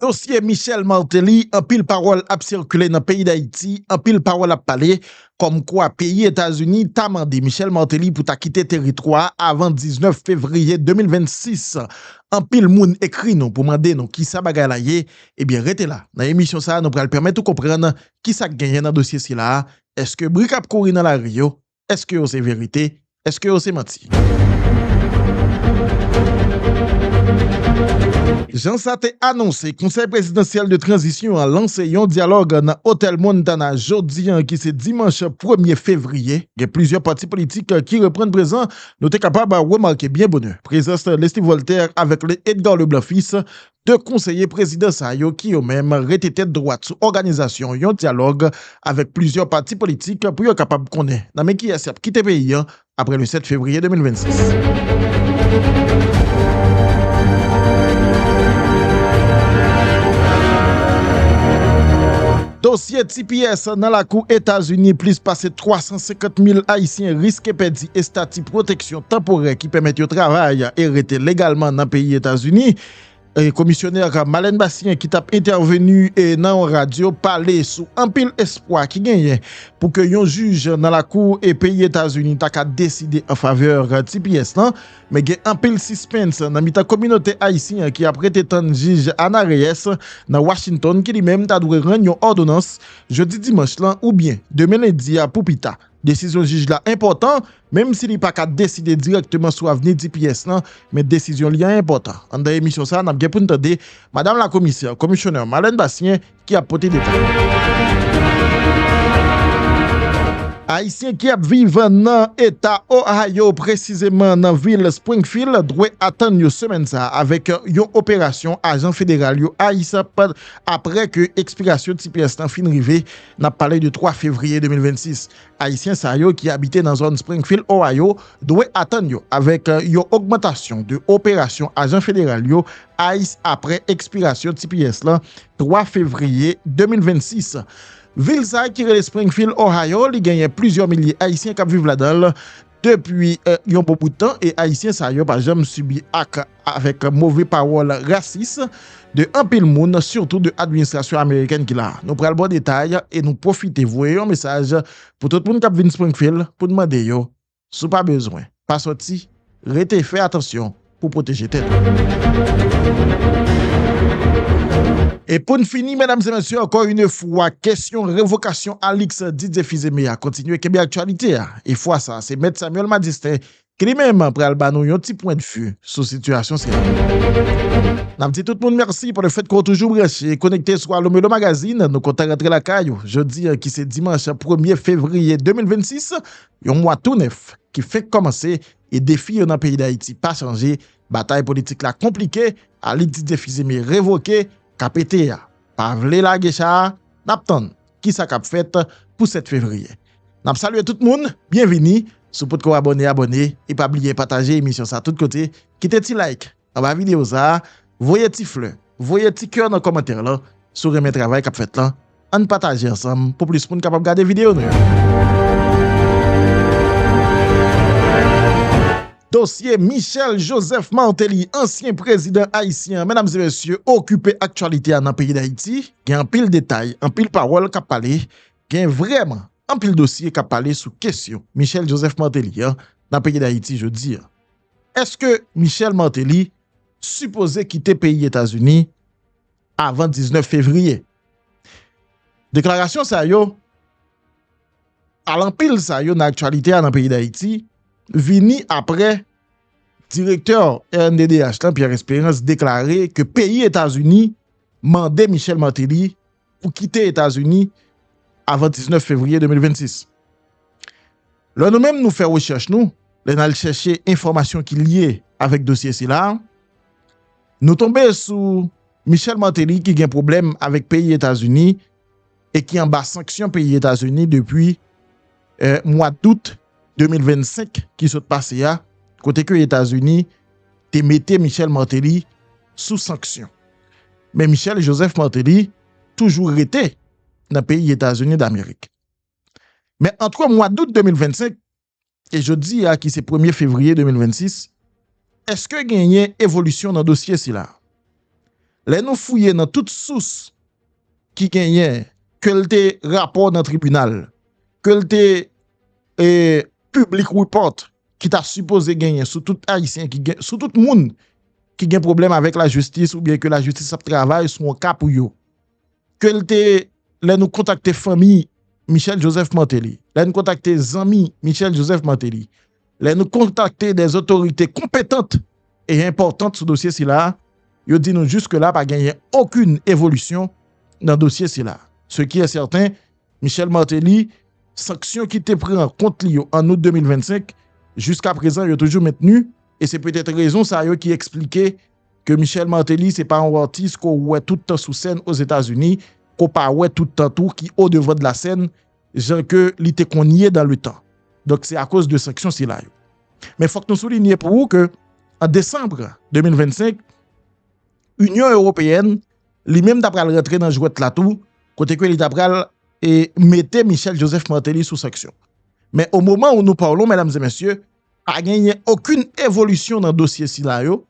Dosye Michel Martelly, anpil pawòl ap sikile nan peyi Dayiti, anpil pawòl ap pale, kòm kwa peyi Etazini ta mande Michel Martelly pou ta kite teritwa a avan 19 fevriye 2026. Anpil moun ekri nou pou mande nou kisa bagay la ye, ebyen rete la, nan emisyon sa a nou pral pèmèt ou konprann kisak genyen nan dosye sila a, èske bri kap kouri nan lari yo, Eske yo se verite? Eske yo se manti? Jan sa te anonse, Konsèy Prezidansyèl de Tranzisyon an lanse yon dyalòg nan Otèl Montana jodi an ki se dimanch premye fevriye. Gen plizyè pati politik ki reprann prezan. Nou te kapab remake byen bonè prezans Leslie Voltaire avèk Le Edgar Leblanc Fils 2 konseye prezidan sa yo ki yo menm rete tèt dwat sou òganizasyon yon dyalòg avèk plizyè pati politik pou yo kapab konnen nan men kiyès y ap kite peyi an aprè le 7 fevriye 2026. Dosye tps nan lakou Etazini, plis pase 350 mil ayisyen riske pèdi estati pwoteksyon. tanporè ki pèmèt yo travay e rete legalman nan peyi Etazini. Komisyonè Marlène Bastien ki tap entèveni nan yon radyo pale sou anpil espwa ki genyen pou ke yon jij nan lakou peyi Etazini ta ka deside an favè tps lan. Men gen anpil sispens nan mitan kominote ayisyen an ki ap rete tann jij Ana Reyes nan Washington ki li menm ta dwe rann yon òdonans jodi dimanch lan oubyen demen lendi a pou pita. Desizyon jij la enpòtan, menm si li pa ka deside dirèkteman sou avni dps lan, men desizyon li an enpòtan. Anndan emisyon sa a, n ap gen pou n tande Madam Lakomisè, Commissioner, Marlène Bastien ki ap pote detay. Ayisyen ki ap viv nan Eta Ohio, presizeman nan vil Springfield, dwe atann yo semèn sa a avèk yon operasyon ajan federal yo ICE ap apre ke ekspirasyon tps lan fin rive N ap pale de 3 fevriye 2026. Ayisyen sa yo ki abite nan zòn Springfield, Ohio, dwe atann yo avèk yon ogmantasyon de operasyon ajan federal yo ice apre ekspirasyon tps lan 3 fevriye 2026. Vil sa ki rele Springfield, Ohio, li genyen plizyè milye Ayisyen k ap viv ladan l. depi yon bon bout tan e ayisyen sa yo pa janm sibi ak avèk move pawòl rasis de anpil moun sitou de administrasyon amerikèn ki la a. Nou pral ba w detay e nou pwofite voye yon mesaj pou tout moun k ap vin Springfield pou n mande yo si w pa bezwen pa sòti rete fè atansyon pou pwoteje tè nou. E pou n fini medam e mesye ankò yn fwa kesyon revokasyon Alix Didier Fils-Aimé a kontinye kenbe aktyalite a e fwa sa se mèt Samuel Madistin ki li menm pral ba nou yon ti pwendvi sou sitiyasyon sila. N ap di tout moun mèsi pou le fèt ke w toujou branche e konekte sou Allo Melo Magazine, nou kontan rantre lakay ou jodi an ki se dimanch premye fevriye 2026, yon mwa tou nèf ki fenk kòmanse. e defi yo nan peyi Dayiti pa chanje, batay politik la konplike, Alix Didier Fils-Aimé revoke, KPT a pa vle lage cha a, n ap tann ki sa k ap fèt pou 7 fevriye. N ap salye tout moun, byenvini, si w potko abòne abòne e pa bliye pataje emisyon sa tout kote, kite ti like. anba video sa a, voye ti flè, voye ti kè nan kòmantè lan si w renmen travay k ap fèt lan, ann pataje ansanm pou plis moun kapab gade video nou yo. Dosye Michel Joseph Martelly, ansyen prezidan ayisyen an medam e mesye okipe aktyalite a nan peyi Dayiti, gen anpil detay, anpil pawòl k ap pale, gen vrèman anpil dosye k ap pale sou kesyon Michel Joseph Martelly an nan peyi Dayiti jodi an. Eske Michel Martelly sipoze kite peyi Etazini avan 19 fevriye? Deklarasyon sa yo, alanpil sa yo nan aktyalite a nan peyi Dayiti, vini apre direktè rnddh lan Pierre Esperance deklare ke peyi Etazini mande Michel Martelly pou kite Etazini avan 19 fevriye 2026. Lè nou menm nou fè rechèch nou, lè n al chèche enfòmasyon ki lye avèk dosye sila, nou tonbe sou Michel Martelly ki gen pwoblèm avèk peyi Etazini e ki anba sanksyon peyi Etazini depi mwa dout 2025 ki sot pase a kote ke Etazini te mete Michel Martelly sou sanksyon. Men Michel Joseph Martelly toujou rete nan peyi Etazini Damerik. Men antre mwa dout 2025 e jodi a ki se premye fevriye 2026, eske genyen evolisyon nan dosye sila? Lè nou fouye nan tout sous ki genyen ke l te rapò nan tribinal, ke l te public report ki ta sipoze genyen sou tout ayisyen ki gen, sou tout moun ki gen pwoblèm avèk lajistis oubyen ke lajistis ap travay sou yon ka pou yo. Ke l te, lè nou kontakte fanmi Michel Joseph Martelly, lè nou kontakte zanmi Michel Joseph Martelly, Lè nou kontakte de zotorite konpetant e enpòtant sou dosye sila, yo di nou jiske la pa genyen okin evolisyon nan dosye sila. Se ki e sèten, Michel Martelly, sanksyon ki te pran kont li yo an Out 2025, jiska prezan yo toujou mentni e se petèt rezon sa yo ki eksplike ke Michel Martelly se pa yon atis ke w wè tout tan sou sèn Ozetazini, ke w pa wè tout tan tou ki o devan de la sèn, jan ke li te konn ye dan le tan. Donk se akoz de sanksyon sila yo. Men fòk nou soulinye pou ou ke an desanbre 2025, Inyon Ewopeyèn li menm ta pral rantre nan jwèt la tou, kote ke li ta pral e mete Michel Joseph Martelly sou sanksyon. Men o moman ou nou pawlon medam e mesye, pa genyen okoun evolisyon nan dosye sila yo,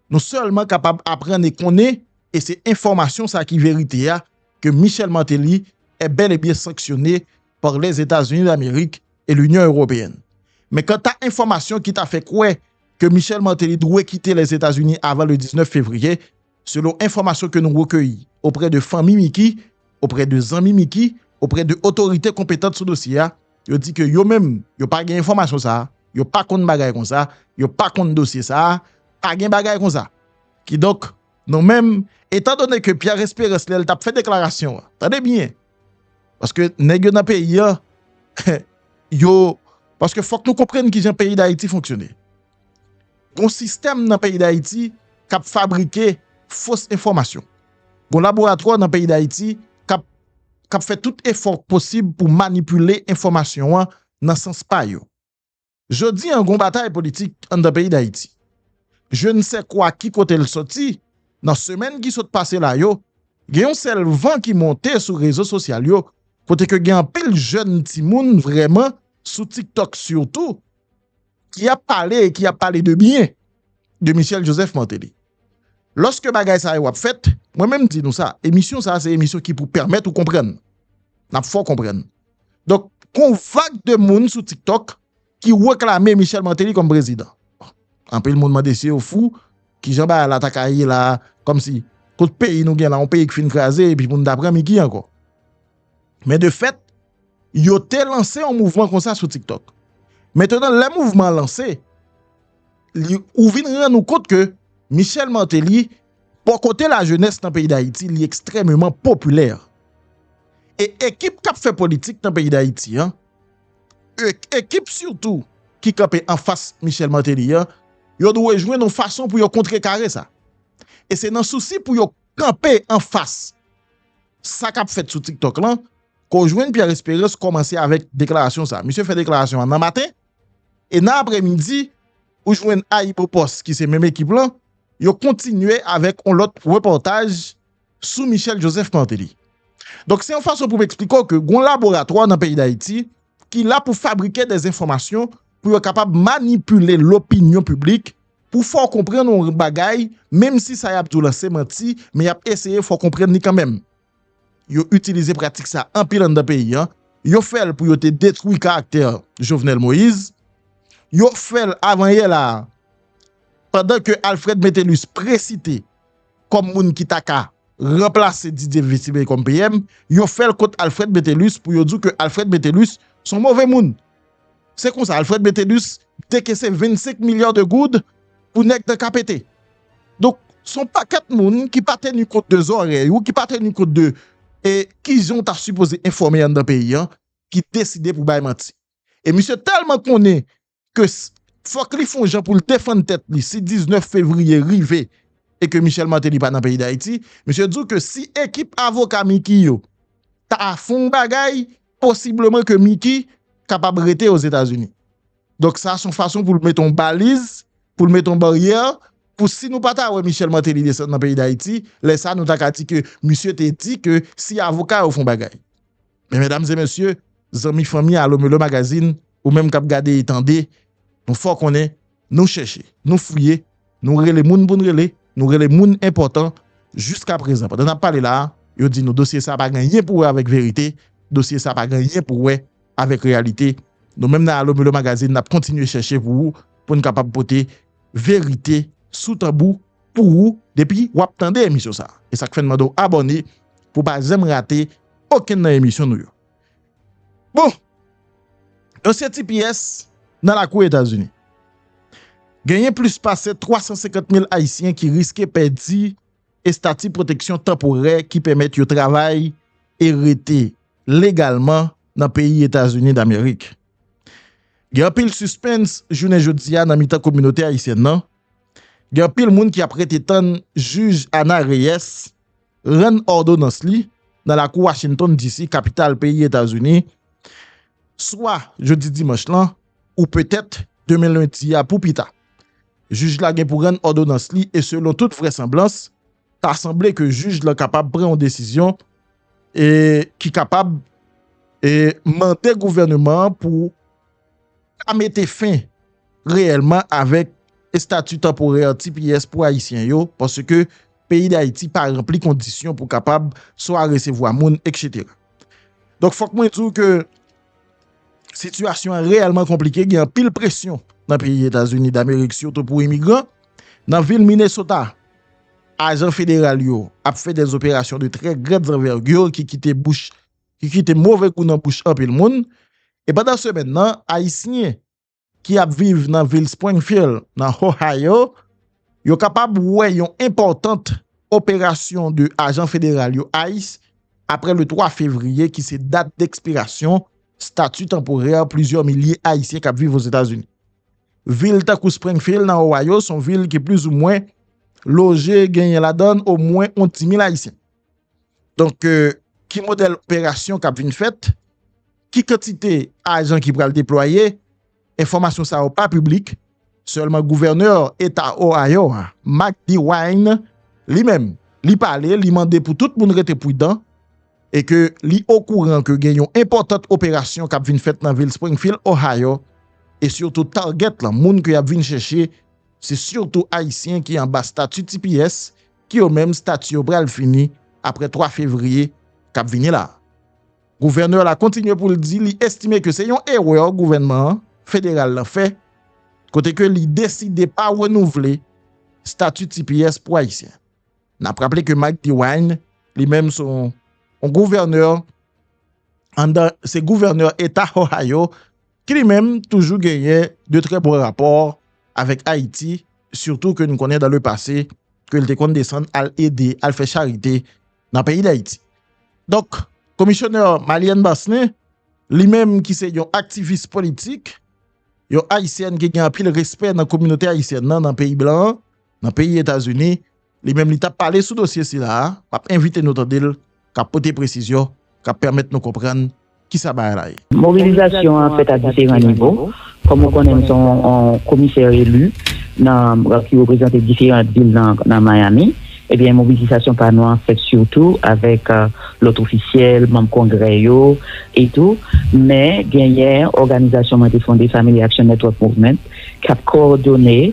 nou sèlman kapab aprann e konnen e se enfòmasyon sa ki verite a ke Michel Martelly è bèl e byen sanksyone par Lèzetazini d'Amerik e Linyon Ewopeyenn. Men kanta enfòmasyon ki ta fè kwè ke Michel Martelly dwe kite Lèzetazini avan le 19 fevriye, selon enfòmasyon ke nou rekeyi oprè de fanmi Micky, oprè de zanmi Micky, oprè de otorite konpetant sou dosye a, yo di ke yo menm yo pa gen enfòmasyon sa, yo pa konn bagay konsa, yo pa konn dosye sa, pa gen bagay konsa. Kidonk, Nou menm, etan done ke Pierre Esperance lè l t ap fè deklarasyon an, tande byen, paske nèg yo nan peyi an, yo, paske fòk nou konprann ki jan peyi Dayiti fonksyone. Gon sistèm nan peyi Dayiti k ap fabrike fos enfòmasyon. Gon laboratwa nan peyi Dayiti k ap, k ap fè tout efò k posib pou manipile enfòmasyon an nan sans pa yo. Jodi an gon batay politik anndan peyi Dayiti. Je ne sais quoi ki kote l soti, nan semèn ki sot pase la yo, gen yon sèl van ki monte sou rezo sosyal yo kote ke gen anpil jèn timoun vrèman sou tiktok sitou ki ap pale e ki ap pale de byen de Michel Joseph Martelly. Lòske bagay sa yo ap fèt, mwen menm di nou sa, emisyon sa se emisyon ki pou pèmèt ou konprann. N ap fè w konprann. Donk, gon vag de moun sou tiktok ki reklame Michel Martelly kòm prezidan. Anpil moun mande si yo fou, ki jan bagay la ta ka ye la a, kòm si, kot peyi nou gen la, yon peyi ki fin kraze epi pou nou ta pran Micky ankò. Men de fèt, yo te lanse yon mouvman konsa sou tiktok. Mentnan lè mouvman an lanse, li, ou vin rann ou kont ke Michel Martelly, Bò kote lajenès nan peyi Dayiti li ekstrèmeman popilè e ekip k ap fè politik nan peyi Dayiti an, ekip sitou ki kanpe anfas Michel Martelly an, yo dwe jwenn yon fason pou yo kontrekare sa. E se nan sousi pou yo kanpe anfas sa k ap fèt sou TikTok lan ke w jwenn Pierre Esperance kòmanse avèk deklarasyon sa. Misye fè deklarasyon an nan maten e nan aprèmidi ou jwenn AyiboPost ki se menm ekip lan, Yo kontinye avèk yon lòt repòtaj sou Michel Joseph Martelly. Donk se yon fason pou m eksplike w ke gon laboratwa nan peyi Dayiti ki la pou fabrike de enfòmasyon pou yo kapab manipile lopinyon piblik pou fè w konprann yon bagay menm si sa y ap di w lan se manti men y ap eseye fè w konprann li kanmenm. Yo itilize pratik sa anpil anndan peyi an, yo fèl pou yo te detwi karaktè Jovenel Moïse, yo fèl avan yè la a pandan ke Alfred Metellus presite kòm moun ki ta ka ranplase Didier Vesime kòm PM, yo fèl kont Alfred Metellus pou yo di w ke Alfred Metellus son move moun Se konsa Alfred Metellus te kese 25 milliards de goud pou nèg nan KPT. Donk son pakèt moun ki pa teni kont de zòrèy ou ki pa teni kont de e kijan ou ta sipoze enfòme anndan peyi an ki deside pou bay manti. E misye tèlman konnen ke fòk li fon jan poul defann tèt li si 19 fevriye rive e ke Michel Martelly pa nan peyi Dayiti, misye di w ke si ekip avoka Micky yo ta fon bagay posibleman ke Miki kapab rete Ozetazini. Donk sa son fason pou l mete yon baliz, pou l mete yon baryè, pou si nou pa ta wè Michel Martelly desann nan peyi Dayiti, lè sa nou ta ka di ke misye te di ke si avoka yo fon bagay. Men medam e mesye, zanmi fanmi Alo Melo Magazine, ou menm kap gade e tande, nou fè w konnen, Nou chèche, nou fouye, nou rele moun pou n rele, nou rele moun enpòtan, jiska prezan pandan n ap pale la a, yo di nou dosye sa a pa gen anyen pou wè avèk verite, dosye sa a pa gen anyen pou wè avèk reyalite. Nou menm nan Alo Milo Magazine n ap kontinye chèche pou ou pou n kapab pote verite sou tanbou pou ou depi w ap tande emisyon sa a. E sa k fè n mande w abòne pou w pa janm rate okenn nan emisyon nou yo. Bon, dosye tps nan lakou Etazini. Genyen plis pase 350 mil ayisyen ki riske pèdi estati pwoteksyon tanporè ki pèmèt yo travay e rete legalman nan peyi Etazini Damerik. Gen anpil sispens jounen jodi a nan mitan kominote ayisyèn nan, gen anpil moun ki ap rete tann jij Ana Reyes, rann òdonans li nan lakou Washington DC, kapital peyi Etazini, swa jodi dimanch lan ou petèt demen lendi a pou pi ta. Jij la gen pou rann òdonans li e selon tout vrèsanblans, ta sanble ke jij lan kapab pran yon desizyon e ki kapab e mande gouvèneman an pou ka mete fen reyèlman avèk estati tanporè tps pou Ayisyen yo, paske peyi Dayiti pa ranpli kondisyon pou kapab swa resevwa moun, etc. Donk fòk mwen di w ke sitiyasyon an reyèlman konplike, gen anpil presyon nan peyi Etazini Damerik sitou pou imigran. Nan vil Minnesota, ajan federal yo ap fè dè operasyon de trè grand anvergure ki kite bouch. ki kite move gou nan bouch anpil moun, e pandan semèn nan Ayisyen ki ap viv nan vil Springfield nan Ohio yo kapab wè yon enpòtant operasyon 2 ajan federal yo ice apre le 3 fevriye ki se dat dekspirasyon stati tanporè plizyè milye Ayisyen kap viv Ozetazini. Vil tankou Springfield nan Ohio son vil ki plizoumwen loje genyen ladann omwen yon 10 mil Ayisyen. Donk, ki modèl operasyon k ap vin fèt, ki kantite ajan ki pral deplwaye, enfòmasyon sa yo pa piblik, sèlman gouvènè eta Ohio a, Mike DeWine, li menm, li pale, li mande pou tout moun rete pridan, e ke li okouran ke gen yon enpòtant operasyon k ap vin fèt nan vil Springfield, Ohio, e sitou target lan, moun ke y ap vin chèche, se sitou Ayisyen ki anba stati tps ki yo menm stati yo pral fini aprè 3 fevriye kap vini la. Gouvènè la kontinye pou l di li estime ke se yon erè gouvènman federal lan fè kote ke li deside pa renouvle stati tps pou Ayisyen. Nap raple ke Mike DeWine li menm se yon gouvènè anndan se gouvènè eta Ohio ki li menm toujou genyen de trè bon rapò avèk Ayiti, sitou ke nou konnen dan le pase ke li te konn desann al ede, al fè charite nan peyi Dayiti. Donk, Komisyonè Malienne Basne, li menm ki se yon aktivis politik, yon Ayisyèn ki gen anpil respè nan kominote Ayisyèn nan nan peyi blan an, nan peyi Etazini, Li menm li tap pale sou dosye sila a, map envite nou tande l kap pote presizyon kap pèmèt nou konprann kisa bagay la ye. Mobilizasyon an fèt a diferan nivo, kòm ou konnen m se yon komisè elu ki reprezante diferan vil nan Miami, ebyen mobilizasyon pa nou an fèt sitou avèk lòt ofisyèl, manm kongrè yo e tou, men genyen òganizasyon mwen te fonde Family Action Network Movement kap kowòdone.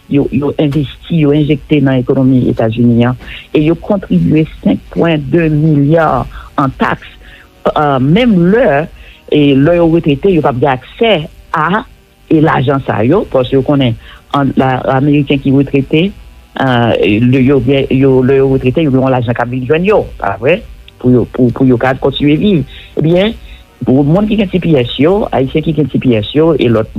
Yo envesti, yo enjekte nan ekonomi Etazini an e yo kontribye 5 pwen 2 milya an taks menm lè lè yo retrete yo p ap gen aksè a e lajan sa yo paske yo konnen ameriken ki retrete lè yo retrete yo gen yon lajan k ap vin jwenn yo pa vre pou yo ka kontinye viv ebyen Pou moun ki gen tps yo, Ayisyen ki gen tps yo e lòt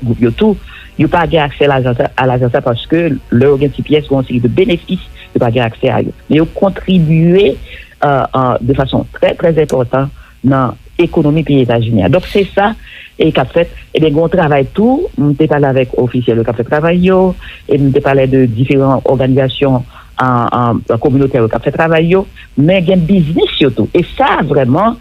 gwoup yo tou, yo pa gen aksè a lajan sa paske lè yo gen tps, gen yon seri de benefis yo pa gen aksè a yo. Men yo kontribye de fason trè trè enpòtan nan ekonomi peyi Etazini a. Donk se sa k ap fèt. Ebyen gen yon travay tou, m te pale avèk ofisyèl yo k ap fè travay yo e m te pale de diferan òganizasyon kominotè yo k ap fè travay yo. Men gen biznis yo tou e sa vrèman.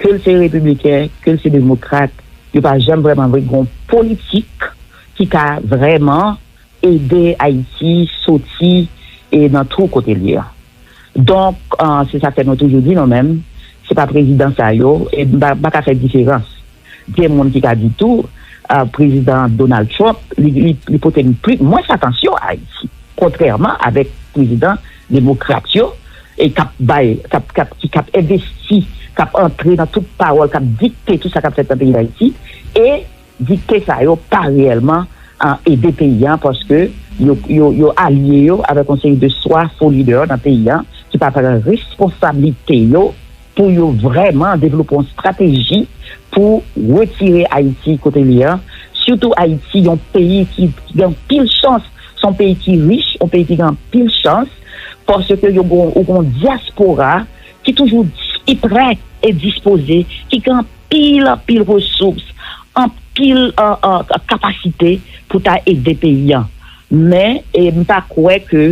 Ke l se repibliken, ke l se demokrat, yo pa janm vrèman vle gen yon politik ki ka vrèman ede Ayiti soti nan twou kote l ye a. Donk, se sa k fè nou toujou di nou menm, se pa prezidan sa yo, e m pa ka fè diferans. Gen moun ki ka di tou, prezidan Donald Trump, li pote mwens atansyon a Ayiti, kontrèman avèk prezidan. Demokrat yo, e kap bay, kap, kap, ki kap envesti, kap antre nan tout pawòl, kap dikte tout sa kap fèt nan peyi Dayiti, e dikte sa yo pa reyèlman ede peyi an paske yo, yo, yo alye yo avèk yon seri de swa fo lidè nan peyi an ki pa pran responsablite yo. pou yo vrèman devlope yon strateji pou retire Ayiti kote li an, sitou Ayiti yon peyi ki gen anpil chans, se yon peyi ki rich, yon peyi ki gen anpil chans, paske yo gen yon dyaspora ki toujou ki prè e dispoze, ki gen anpil anpil resous, anpil kapasite pou ta ede peyi an. Men, m pa kwè ke,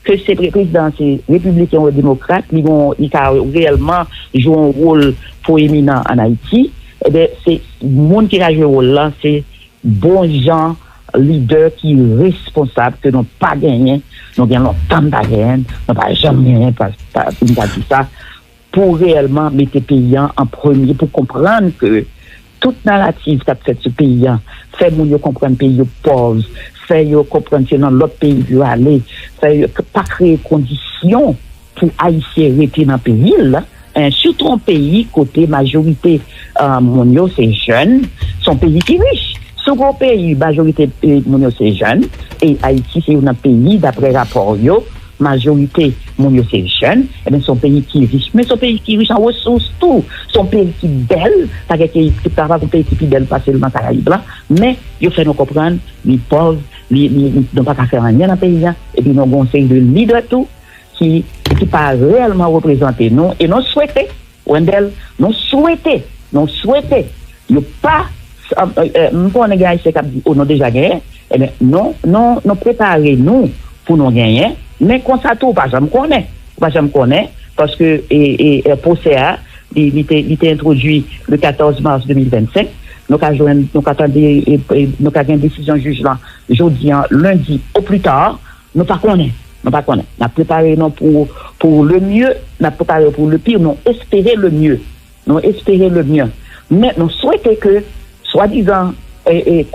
ke se prezidan an se repibliken ou demokrat, li gon, li ka reyèlman jwe yon wol two eminan an Ayiti. Eben, se moun ki ka jwe wol la, se bon jan lidè ki responsab ke nou pa genyen, nou gen lontan n pa genyen, nou pa janm genyen, pou m ta di sa. Pou reyèlman mete peyi an an premye, pou konprann ke tout narativ k ap fèt sou peyi an, fè moun yo konprann peyi yo pòv, fè yo konprann se nan lòt peyi pou yo ale, fè yo pa kreye kondisyon pou Ayisyen rete nan peyi l, sitou yon peyi kote majorite moun yo se jèn, se yon peyi ki rich. Si w gen yon peyi majorite moun yo se jèn, e Ayiti se youn nan peyi, daprè rapò yo, Majorite moun yo se jèn, ebyen se yon peyi ki rich, men se yon peyi ki rich an resous tou, se yon peyi ki bèl, pa gen peyi ki pa gen peyi ki pi bèl pase l nan karayib la, men yo fè nou konprann li pòv, nou pa ka fè anyen nan peyi a, epi nou gen yon seri de lidè tou ki pa reyèlman reprezante nou e nou swete. Wendel, Mwen swete, mwen swete yo pa, m konnen gen Ayisyen k ap di o nou deja genyen, enben nou, nou, nou prepare nou pou nou genyen, men konsa tou ou pa janm konnen, ou pa janm konnen paske e pwosè a li, li te, li te entwodui le 14 mars 2025, nou ka jwenn, nou ka tande, nou ka gen desizyon jij lan jodi an, lendi au plus tard. Nou pa konnen, nou pa konnen. Nap prepare nou pou pou le mieux, nap prepare pou le pire, nou espere le mieux, nou espere le mieux. Men nou swete ke swadizan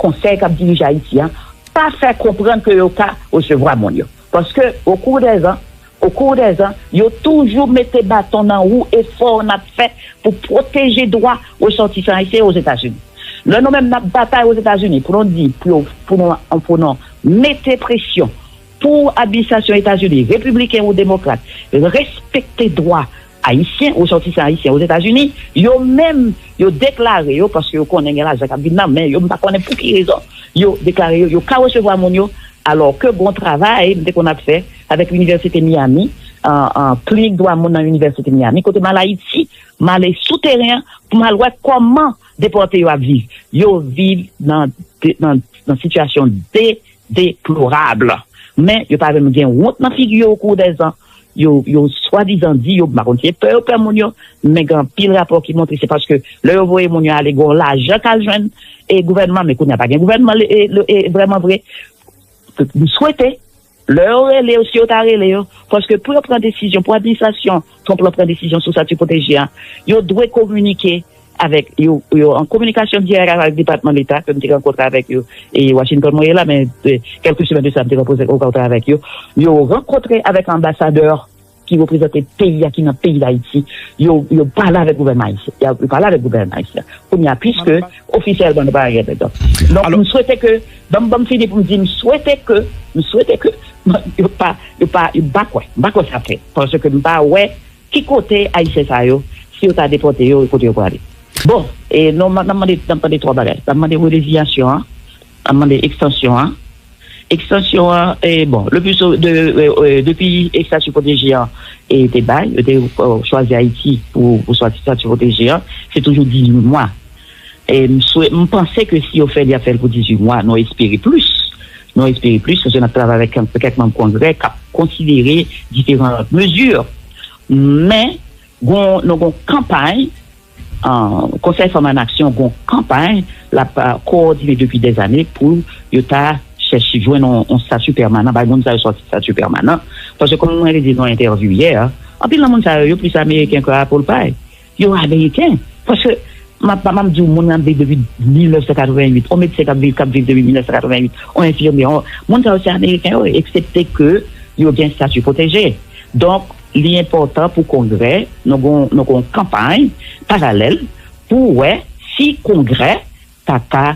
konsèy kap dirije Ayiti an pa fè konprann ke yo ka resevwa moun yo. Paske o kou dè zan, o kou dè zan, yo toujou mete baton nan wou efò nap fè pou pwoteje dwa resòtisan ayisyen yo Ozetazini. Lè nou menm nap batay Ozetazini pou nou di pou yo pou nou pou nou Mete presyon pou administrasyon Etazini, repibliken ou demokrat, respekte dwa Ayisyen, resòtisan Ayisyen Ozetazini, yo menm yo deklare yo, paske yo konnen gen lajan k ap vin nan men yo, m pa konnen pou ki rezon yo deklare yo, yo ka resevwa moun yo, alò ke bon travay m te konn ap fè avèk Inivèsite Miyami, Klinik Dwa Moun nan Inivèsite Miyami, kote m al Ayiti, m ale sou teren an pou m al wè kòman. Depòte yo ap viv. Yo viv nan sitiyasyon de deplorab. Men yo pa menm gen wont nan figi yo okou dèzan. Yo swadizan di yo, m pa konn si se pè yo pè moun yo, men gen anpil rapò ki montre se paske lè yo voye moun yo ale gen yon lajan k al jwenn gouvènman men kounye a pa gen gouvènman vrèmanvre. M swete. Lè yo rele yo, si yo ta rele yo, paske pou yo pran desizyon, pou administrasyon Trump lan pran desizyon sou sati pwoteje a, yo dwe kominike avèk yo, yo an kominikasyon dirèk avèk Depatman Deta ke m te rankontre avèk yo, e Washington mwen ye la, men kèlke semèn de sa m te rankontre avèk yo, yo rankontre avèk anbasadè. ki reprezante peyi a ki nan peyi dayiti yo yo pale avèk gouvènman ayisyen ya yo pale avèk gouvènman ayisyen kounye a piske ofisyèlman nou pa gen dèt donk m swete ke banm banm fini pou m di m swete ke m swete ke yo pa yo pa m pa kwè m pa kwè sa ap fèt paske m pa wè ki kote ayisyen sa yo si yo ta depòte yo kote yo prale bon e non nan mande nan mande 3 bagay nan mande releziyasyon an nan mande ekstansyon an. Ekstansyon an, bon, le plus souvent, depi Statut protégé an te bay, yo te chwazi Ayiti pou Statut protégé an, se toujou 18 mwa. M panse ke si yo fè l, y ap fè l pou 18 mwa, nou espere plis, nou espere plis, paske n ap travay avèk kèk manm Kongrè k ap konsidere diferan mezi. Men, nou gen yon kanpay. Konsèy Fanm Ann Aksyon gen yon kanpay l ap kowòdine depi dèzane pou yo ta chèche jwenn yon stati pèmanan bay moun sa yo stati pèmanan paske kòm mwen te di l nan entèvyou yè a anpil nan moun sa yo yo plis ameriken ke apple pie yo ameriken paske m ap m ap di w moun nan ap viv depi 1988 yon medsen k ap viv k ap viv depi 1988 yon enfimyè yon moun sa yo se ameriken yo ye eksepte ke yo gen stati pwoteje donk. Li enpòtan pou Kongrè nan gen yon kanpay paralèl pou wè si Kongrè ta ka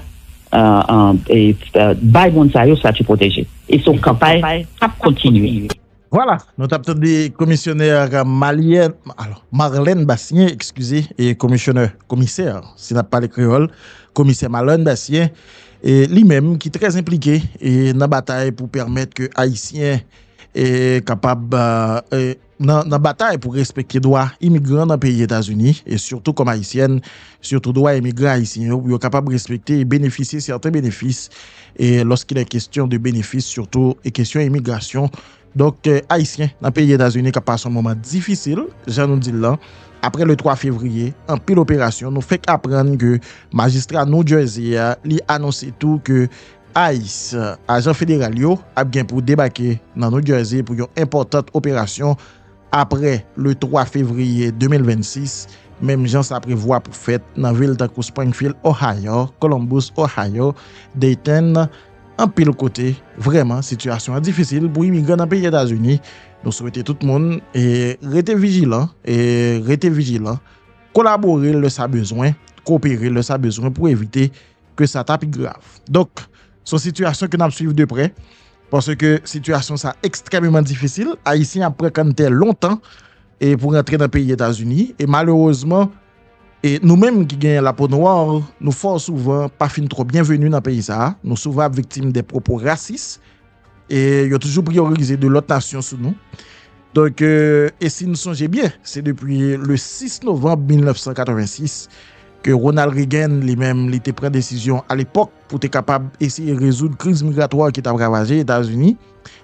bay moun sa yo stati pwoteje. E se yon kanpay k ap kontinye. Vwala, nou t ap tande Komisyonè Marlène Bastien, ekskize, Komisyonè, Komisè, si n ap pale kreyòl, Komisè Marlène Bastien, li menm ki trè enplike nan batay pou pèmèt ke Ayisyen. kapab nan batay pou respekte dwa imigran nan peyi Etazini, e sitou kòm Ayisyèn, sitou dwa imigran Ayisyen yo pou yo kapab respekte e benefisye sèten benefis lòskilè kestyon de benefis sitou e kestyon imigrasyon. Donk Ayisyen nan peyi Etazini kap pase yon moman difisil, jan nou di l lan, apre le 3 fevriye, anpil operasyon, nou fenk aprann ke majistra New Jersey a li anonse tou ke Ice, ajan federal yo, ap gen pou debake nan New Jersey pou yon enpòtant operasyon apre le 3 fevriye 2026, menm jan sa prevwa pou fèt nan vil tankou Springfield, Ohio, Columbus, Ohio, Dayton, anpil kote. Vrèman, sitiyasyon an difisil pou imigran nan peyi Etazini. Nou swete tout moun rete vijilan, rete vijilan, kolabore lè sa bezwen, kopere lè sa bezwen pou evite ke sa ta pi grav. Donk, se yon sitiyasyon ke n ap swiv de prè, paske sitiyasyon sa ekstrèmeman difisil, Ayisyen ap pran kanntè lontan e pou rantre nan peyi Etazini, e malerezman, e nou menm ki gen lapo nwa, nou fò souvan pa fin twò byenveni nan peyi sa, nou souvan ap viktim de pwopo rasis, E yo toujou priyorize de lòt nasyon sou nou. Donk, e si nou sonje byen, se depi le 6 novanm 1986 ke Ronald Reagan li menm li te pran desizyon a lepòk pou te kapab eseye rezoud kriz migratwa ki t ap ravaje Etazini.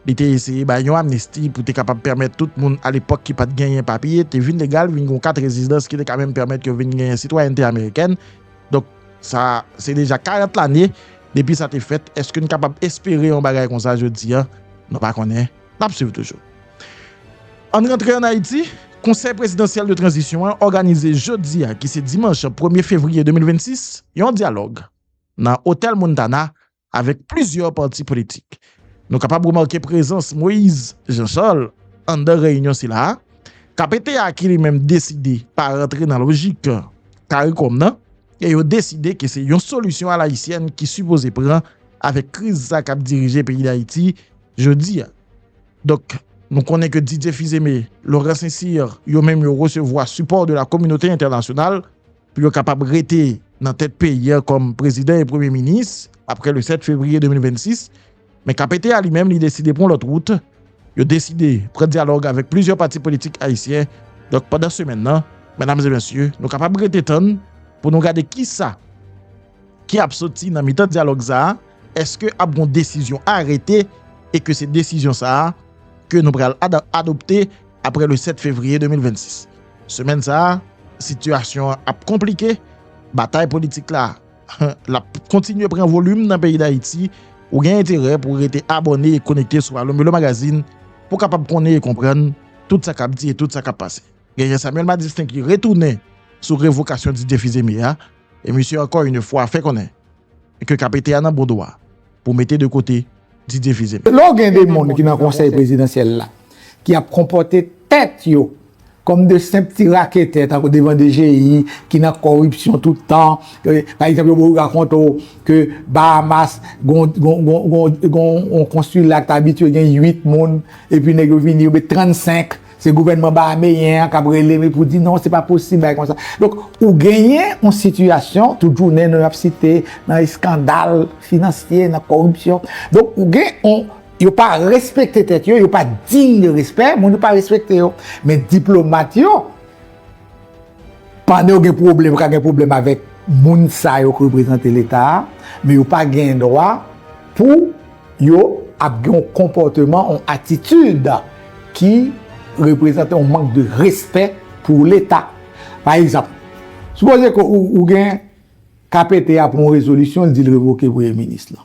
Li te eseye bay yon amnisti pou te kapab pèmèt tout moun a lepòk ki pa t genyen papye te vin legal, vin gen yon kat rezidans ki te ka menm pèmèt yo vin genyen sitwayènte amerikèn. Donk, sa se deja 40 lane depi sa te fèt, èske n kapab espere yon bagay konsa jodi a? Nou pa konnen, n ap suiv toujou. Ann rantre ann Ayiti, Konsèy Prezidansyèl de Tranzisyon an òganize jodi a ki se dimanch premye fevriye 2026, yon dyalòg nan Otèl Montana avèk plizyè pati politik. Nou kapab remake prezans Moïse Jean Charles anndan reyinyon sila a, kpt a ki li menm deside pa rantre nan lojik caricom nan e yo deside ke se yon solisyon alayisyèn ki sipoze pran avèk kriz sa kap dirije peyi Dayiti jodi a. Donk nou konnen ke Didier Fils-Aimé, Laurent Saint-Cyr yo menm yo resevwa sipò de la kominote entènasyonal, pou yo kapab rete nan tèt peyi a kòm prezidan e premye minis aprè le 7 fevriye 2026, men KPT a li menm li deside pran yon lòt wout, yo deside pran dyalòg avèk plizyè pati politik ayisyen, donk pandan semèn nan, mèdam e mesye, nou kapab rete tann pou nou gade kisa Ki ap soti nan mitan dyalòg sa a, eske ap gon desizyon arete e ke se desizyon sa a ke nou pral adopte apre le 7 fevriye 2026. Semèn sa a, sitiyasyon an ap konplike, batay politik la l ap kontinye pran volim nan peyi Dayiti, ou gen enterè pou rete abòne e konekte sou Alo Melo Magazine pou kapab konnen e konprann tout sa k ap di e tout sa k ap pase. Genyen Samuel Madistin ki retounen sou revokasyon Didier Fils-Aimé a. e misye ankò yn fwa fè konnen ke kapete a nan bon dwa pou mete de kote Didier Fils-Aimé. Lè w gen 2 moun ki nan konsèy prezidansyèl la ki ap konpòte tèt yo kòm 2 senp ti raketè tankou devan DGI ki nan kòripsyon tout tan, pa egzanp yo pou rakonte w ke Bahamas gon yon konsila ki ta abitye gen 8 moun epi nèg yo vini yo met 35. Se gouvènman bahameyen an k ap rele wi pou di non se pa posib bagay konsa. Donk ou genyen yon sitiyasyon tout jounen nou ap site nan eskandal finansye, nan kòripsyon. Donk ou gen yon, yo pa respekte tèt yo, yo pa diy de respè, moun yo pa respekte yo. Men diplomat yo. Pandan yo gen pwoblèm, yo ka gen pwoblèm avèk moun sa yo ki reprezante Leta a, men yo pa gen dwa pou yo ap gen yon konpòteman, yon atitid ki reprezante yon mank de respè pou Leta. Pa egzanp, sipoze ke ou gen KPT a pran yon rezolisyon, li di li revoke Premye Minis lan.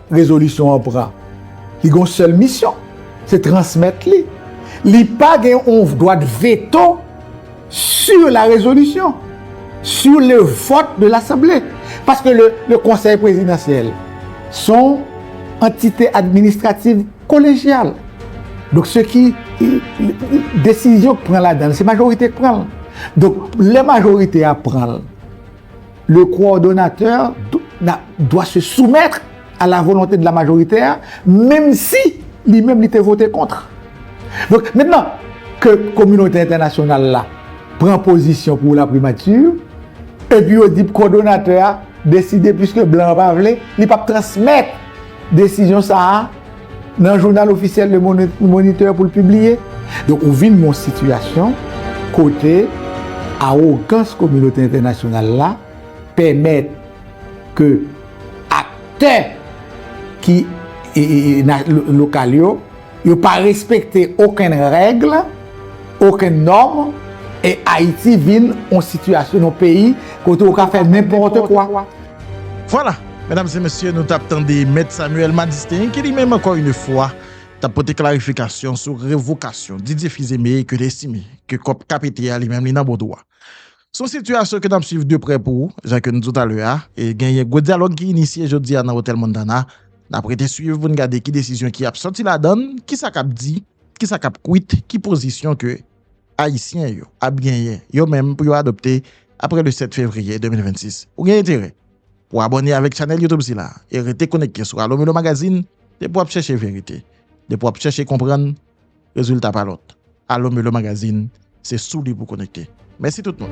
Rezolisyon an pran, li gen yon sèl misyon, se transmèt li. Li pa gen yon dwa de veto sur la résolution, sur le vote de l'Assemblée. Paske le Conseil Présidentiel son antite administrative kolegyal. Donk se ki desizyon ki pran ladan, se majorite ki pran. Donk lè majorite a pran. Le coordonnateur doit se soumettre à la volonté de la majorité a, menm si li menm li te vote contre. Donk, mentnan ke kominote entènasyonal la pran pozisyon pou la primature, epi yo di coordonnateur a deside, puiske blan an pa vle, li pap transmèt desizyon sa a, Nan jounal ofisyèl Le Moniteur pou l pibliye. Donk ou vin yon sitiyasyon kote awogans kominote entènasyonal la pèmèt ke aktè ki lokal yo, yo pa respekte okenn règ, okenn nòm, e Ayiti vin yon sitiyasyon, yon peyi kote ou ka fè nenpòte kwa. Vwala! Medam e mesye, nou tap tande Mèt Samuel Madistin ki li menm ankò yn fwa tap pote klarifikasyon sou revokasyon Didier Fils-Aimé ke l estime ke kòp ka pete a li menm li nan bon dwa. S on sitiyasyon ke nap swiv de prè pou jan ke nou di w talè a e genyen gwo dyalòg ki inisye jodi a nan Otèl Montana. Nap rete swiv pou n gade ki desizyon ki ap sòti ladan l, kisa kap di, kisa kap kwit, ki pozisyon ke Ayisyen yo ap genyen yo menm pou yo adopte apre le 7 fevriye 2026. Ou gen enterè pou w abòne avèk chanèl YouTube sila e rete konekte sou Allo Mulo Magazine depi w ap chèche verite, depi w ap chèche konprann, rezilta pa lòt, Allo Mulo Magazine se sou li pou w konekte. Mèsi tout moun!